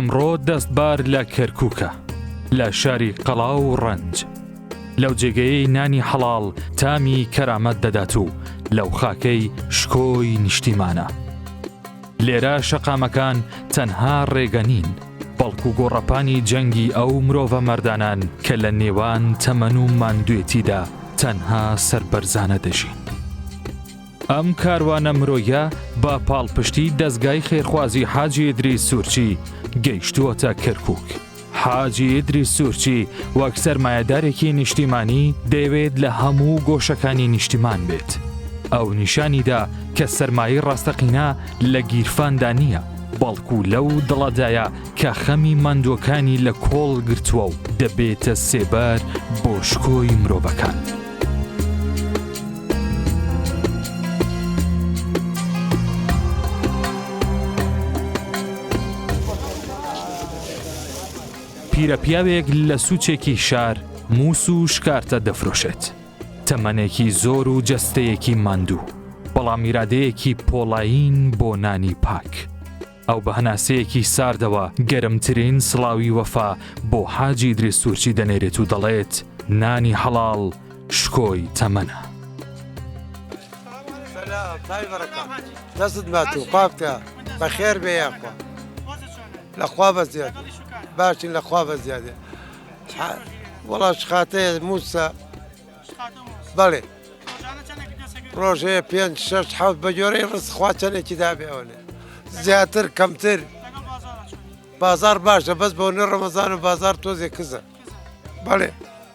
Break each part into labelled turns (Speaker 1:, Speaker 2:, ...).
Speaker 1: ئەمڕۆ دەستبار لە کەرکووکە لە شاری قەڵا و ڕەنج لەو جێگەیەی نانی حەڵال تامی کەرامەت دەدات و لەو خاکەی شکۆی نیشتیمانە. لێرە شەقامەکان تەنها ڕێگە نین، بەڵکو گۆڕەپانی جەنگی ئەو مرۆڤە مەردانان کە لە نێوان تەمەن و ماندوێتیدا تەنها سەربەرزانە دەژین. ئەم کاروانە مرۆیە بە پاڵپشتی دەستگای خێرخوازی حاجێدری سوورچی گەیشتووەتە کەرکک. حاجی ئیدریس سورچی وەک سەرمایەدارێکی نیشتیمانی دەیەوێت لە هەموو گۆشەکانی نیشتیمان بێت. ئەو نیشانیدا کە سەرمایە ڕاستەقینە لە گیرفاندا نییە، بەڵکو لەو دڵەدایە کە خەمی ماندووەکانی لە کۆڵ گرتووە و دەبێتە سێبەر بۆ شکۆی مرۆڤەکان. پیرەپیاوێک لە سوچێکی شار مووس و شکارتە دەفرۆشێت تەمەنێکی زۆر و جەستەیەکی ماندوو بەڵام میرادەیەکی پۆڵایین بۆ نانی پاک ئەو بە هەناسەیەکی ساردەوە گەرمترین سڵاوی وەفا بۆ حاجی درێسوورچی دەنێرێت و دەڵێت نانی حەڵال شکۆی تەمەە دەستت بات و
Speaker 2: پاکە بەخێر بێ یاخوا لە خوا بە زیاد باشین لە خوا بە زیادێ وڵاش خاتەیە موسا بەڵێ ڕۆژەیە پێ شش حوت بە جۆرەی ڕستخوا چەندێکی دابێ ئەوێ زیاتر کەمتر بازار باشە بەس بۆ نە ڕەمەزان و بازار تۆزێ کزە بەڵێ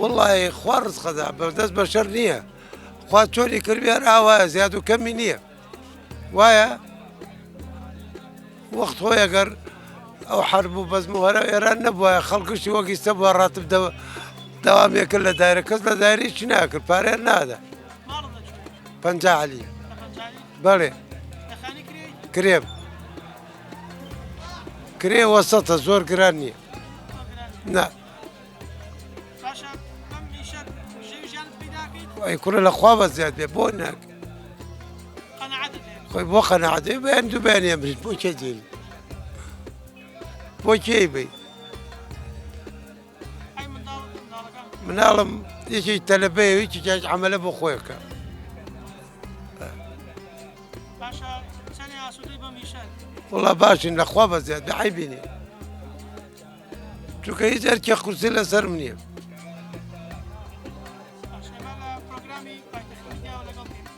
Speaker 2: وڵی خوا ڕزقەدا بەدەست بەشەر نییە خوا چۆری کردیان ئاوا زیاد و کەمی نییە وایە وەخت خۆی ئەگەر ئەو حرب و بەزم و هەرە ئێران نەبووە خەڵکشتی وەگیستە بووە ڕاتب دەوە داوامێکرد لە دایرە کەس لە دایری چی ناکرد پارێ نادا پنج علی بەڵێ کرێم کرێ وەسەتە زۆر گران نییە نا ئەی کوڕە لە خوا بە زیاد بێ بۆ ناک خۆی بۆ قەنەعەتێ بەیان دوو بەیان ئەمریت بۆ کێ دێنی بۆ کێی بیت مناڵم یەکی تەلەبەیە یەکی جاج ئەمەلە بۆ خۆیەکە وڵا باشین لەخوا بە زیاد بەعی بینێ چونکە هیچ ئەرکێ قورسی لەسەر منە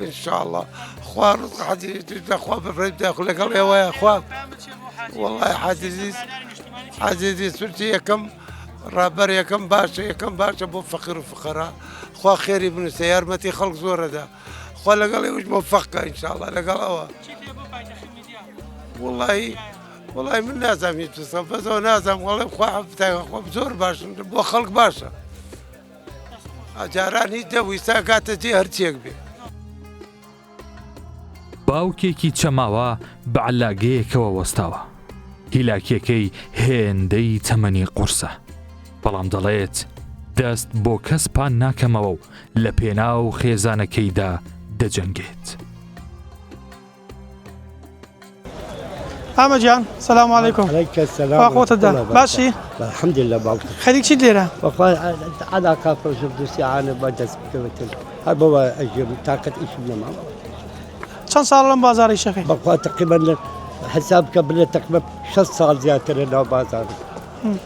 Speaker 2: انشاءاللە خوار حەجی دەخوا بەڕێ داخل لەگەڵ ئێوەیە خوا وڵی حەجیزیز حەجیزی سورتی یەکەم ڕابەر یەکەم باشە یەکەم باشە بۆ فەقیر و فقەرا خوا خێری بنووسە یارمەتی خەڵک زۆرەدا خوا لەگەڵ ئێوش بۆ فەقە انشاءاللە لەگەڵەوە وڵی وەڵای من نازام هیچ بسەم بەزەوە نازام وەڵێ خوا خۆم زۆر باشم بۆ خەڵک باشە ئەجاران هیچ دەویستا گاتە جێ هەرچێک بێ
Speaker 1: باوکێکی چەماوە بە علاگەیەکەوە وەستاوە هیلاکیەکەی هێندەی تەمەنی قورسە بەڵام دەڵێت دەست بۆ کەس پان ناکەمەوە و لە پێناو خێزانەکەیدا دەجەنگێت.
Speaker 3: ئامە جان سلام علیکم خۆتەدا باشی حمد لە باڵ
Speaker 4: خەری چی لێرە ئادا کافۆژ دووسیانە بە دەست بکەوێتن هەر بەوە ئەژێم تااقەت ئیش نەما چەند
Speaker 3: ساڵ لەم بازاری شەکەی بەخوا تقیبەن
Speaker 4: حساب بکە بلێ تقمە 6 ساڵ زیاترە ناو بازار.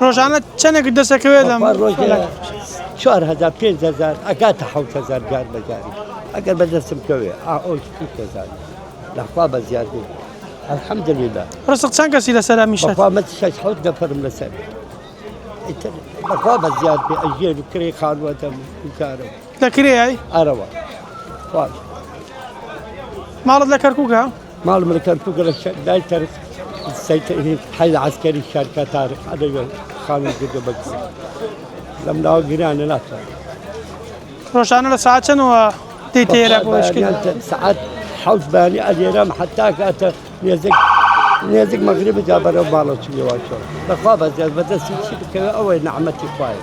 Speaker 4: ڕۆژانە
Speaker 3: چەنێکت دەسەکەوێت لەم بەخوا ڕۆژێ کۆلانە؟
Speaker 4: چوار هەزار پێنج هەزار ئەگاتە حەوت هەزار جار بە جاری ئەگەر بەدەستم کەوێ ئا ئەو شتی کەزان لەخوا بە زیاد بوو الحمدللە ڕسق چەند کەسی
Speaker 3: لەسەرە میشەت؟ بەخوا من شەش حەوت
Speaker 4: نەفەرم لەسەر ئیتر بەخوا بە زیاد بێ ئەژێن و کرێی خانووە دەم و گوزارم لەکرێی؟
Speaker 3: ئەرە وە
Speaker 4: خواش
Speaker 3: ماڵت لە کەرکووکە؟ ماڵ من کەرکووک
Speaker 4: لە دای کەر حەیل عسکەری شارکەتار ئەدەگە خانم گردە بەکس لەم ناوە گرانە ناتوان
Speaker 3: ڕۆژانە لە ساعت چەندەوە دەی تێرە بۆ سعات
Speaker 4: حەوت بانی ئەلێرام حتا کاتە نێزێک نێزیک مەغرب جا بەرەو باڵە چ لێواچۆ بەخوا بەزیاد بەدەستی چی بکەوە ئەوەی نەعمەتی خوایە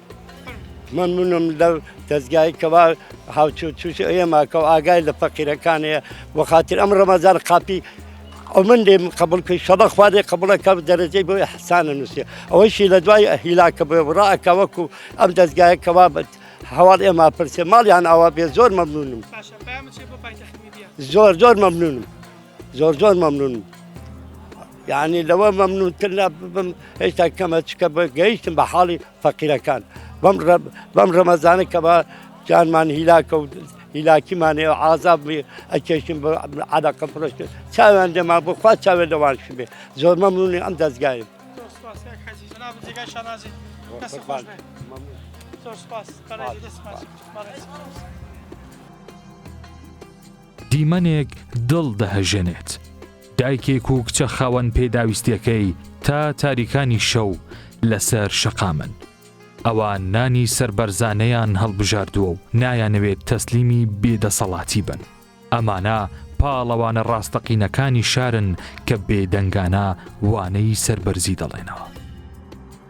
Speaker 3: مەمنونم
Speaker 4: لەو دەزگای کەوا هاوچۆ توش ئێمە کەەوە ئاگای لە فەقیرەکانەیە وەخاتر ئەم ڕەمەزار قاپی ئەو من لێ قبول کرد شەڵە خوارێ قبولەکە دەرەجەی بۆی حسانە نووسێ ئەوەیشی لە دوای هیلاکە بێ بڕاکە وەکو ئەم دەستگایە کەوا بەت هەواڵ ئێمە پرسێ ماڵیان ئاوا بێ زۆر مەمنونم زۆر زۆر مەمنونم زۆر زۆر مەمنونم یانی لەوە مەمنونتر نابم هێشتا کەمە چکە بە گەیشتم بە حاڵی فەقیرەکان بەم ڕەب بەم ڕەمەزانە کە بە جانمان هیلاکە و هیلاکیمانێ و عذاب ئەکێشتم بە عادەقە پرۆشت چاویان لێمان بۆ خوا چاوێ لەوان شبێ زۆر مەمنونی ئەم دەستگای سپاس.
Speaker 1: دیمەنێک دڵ دەهەژێنێت. دایکێک و کچە خاوەن پێداویستیەکەی تا تاریکانی شەو لەسەر شەقامن. ئەوە نانی سربەرزانەیان هەڵبژاردووە و نایانەوێت تەسلیمی بێدەسەڵاتی بن. ئەمانە پاڵەوانە ڕاستەقینەکانی شارن کە بێدەنگانە وانەی سربەرزی دەڵێنەوە.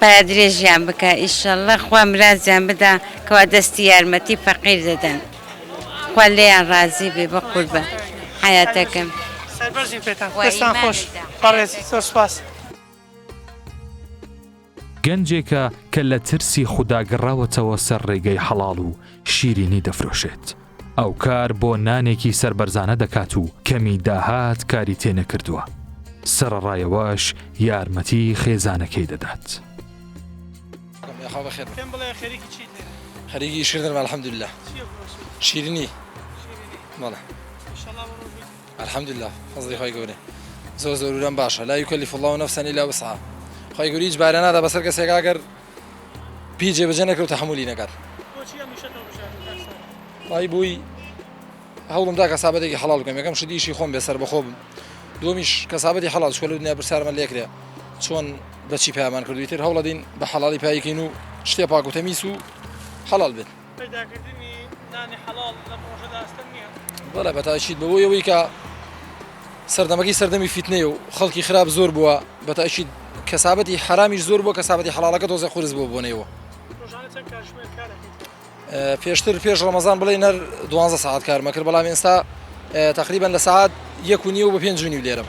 Speaker 5: پایە درێژیان بکا ئیشەڵا خوا مراجیان بدا کوا دەستی یارمەتی فەقیر دەدەن خوا لێیان ڕازی بێ بەقور بە حەیاتەکەم. سەربەرزین
Speaker 3: پێتان دەستان خۆش بەڕێز زۆر سوپاس.
Speaker 1: گەنجێکە کە لە ترسی خودا گەڕاوەتەوە سەر ڕێگەی حەڵاڵ و شیرینی دەفرۆشێت. ئەو کار بۆ نانێکی سەربەرزانە دەکات و کەمی داهات کاری تێ نەکردووە. سەرەڕایەوەش یارمەتی خێزانەکەی دەدات.
Speaker 3: خەریکی شکردن
Speaker 6: الحمدللە شیرنی بەڵێ الحمدللە فەزلی خۆی گەورە زۆر زۆرورم باشە لا یوکەلی فڵاو نەفسەنی لە وسعە خۆی گوریج بارە نادا بەسەر کەسێکا گەر پی جێبەجێ نەکرد تەحەمولی نەکات بۆچی ئەم ئیشەت هەڵبژاردی کاک سابت؟ وای بووی هەوڵم دا کەسابەتێکی حەڵاڵ بکەم یەکەم شت ئیشی خۆم بێ سەربەخۆ بم دووەمیش کەسابەتی حەڵاڵ چکە لە دنیا پرسیارمان لێ کرێ چۆن بەچی پامان کردوی تر هەوڵەدین بە حەڵاڵی پایکەین و شتێ پاک و تەمیس و حەڵاڵ بێت پەیداکردنی
Speaker 3: نانی حەڵاڵ لەم ڕۆژەدا ئەستەم نییە؟ بەڵێ
Speaker 6: بەتاکید بەوەی ئەوەی کە سەردەمەکەی سەردەمی فیتنەیە و خەڵکی خراپ زۆر بووە بەتاکید کەسابەتی حرامیش زۆر بووە کەسابەتی حەڵالەکە دۆزە قورس بوو بۆنەوە پێشتر پێش ڕەمەزان بڵێ نەر دوانزە ساعت کارمەکرد بەڵام ئێستا تقریبان لە ساعت یەک و نیە و بە پێنج جوونی لێرم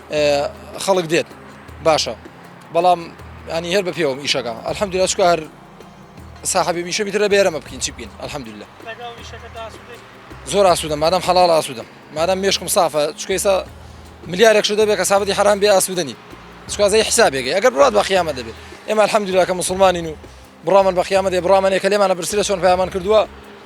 Speaker 6: خەڵک دێت باشە بەڵام ینی هەر بە پێوەم ئیشەکە ئەلحەمدی لەچکە هەر ساحبی میشە میترە بێرەمە بکەین چی بکەین ئەلحەمدی لە زۆر ئاسوودە مادەم حەڵال ئاسوودەم مادەم مشکم سافە چکەیسا ملیارێک شو دەبێت کە سابەتی حرام بێ ئاسوودنی سوازی حسابێکی ئەگەر بڕات بە قیامە دەبێت ئێمە الحەمدوراکە مسلمانین و بڕامن بە قیامەتی بڕامانێکە لێمانە برسرە چۆن پەیامان کردووە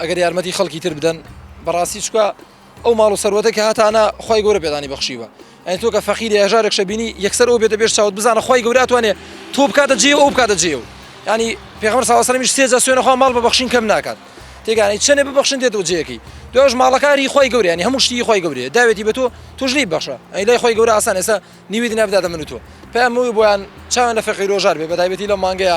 Speaker 6: ئەگەر یارمەتی خەڵکی تر بدەن بەڕاستی چکە ئەو ماڵ و سەروەتە کە هاتانە خی گەورە پێدانی بەخشیوە ئەین تۆ کە فەقیر هێژارێک شەبینی یەکسەر ئەو بێتە بێش چاوت بزانە خی گەوراتوانێ تۆ بکاتە جێ ئەو بکاتە جێ و ینی پێغمەر ساوەسەرمیش سێجا سوێنەخوا ماڵ بە بەخشین کەم ناکات تێگانی چەنێ ببخشن دێت و جێکی دوش ماڵەکانی خی گەوریانی هەموو شتی خی گەورێ داوێتی بە تۆ توشلی بەخشە ئەی لای خی گەورە ئاسان ێستا نیوی نابداتە من و تۆ پامەوەی بۆیان چاوان لە فەقیرۆژار بێ بەتایبەتی لە مانگەیە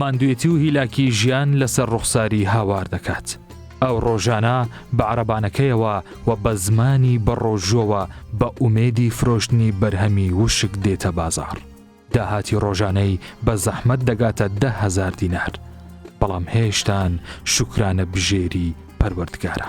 Speaker 1: ماندوێتی و هیلاکی ژیان لەسەر ڕوخساری هاوار دەکات. ئەو ڕۆژانە بە عربانەکەیەوە و بە زمانی بەڕۆژۆوە بە ئومێدی فرۆشتنی بەرهەمی وشک دێتە بازار. داهاتی ڕۆژانەی بە زەحمەت دەگاتە دەهزار دینار. بەڵام هێشتان شکرانە بژێری پەروەردگارە.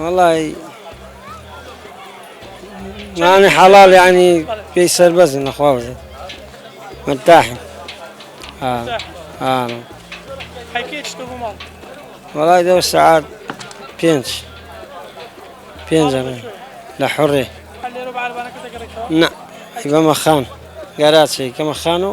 Speaker 3: وەڵی
Speaker 7: نانی حەڵال ینی پێی سەربەزی نەخوازی متاحی
Speaker 3: وەڵای دە
Speaker 7: سعات پێنج پێنج لە حڕێ
Speaker 3: نە بەمە
Speaker 7: خان گەراچی کەمە خان و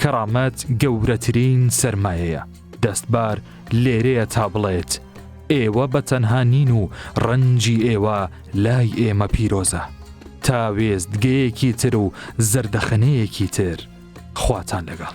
Speaker 1: کەڕامەت گەورەترین سەرمایەیە، دەستبار لێرەیە تا بڵێت، ئێوە بە تەنها نین و ڕەنجی ئێوە لای ئێمە پیرۆزە، تا وێستگەیەکی تر و زەردەخەنەیەکی تر، خواتان لەگەڵ.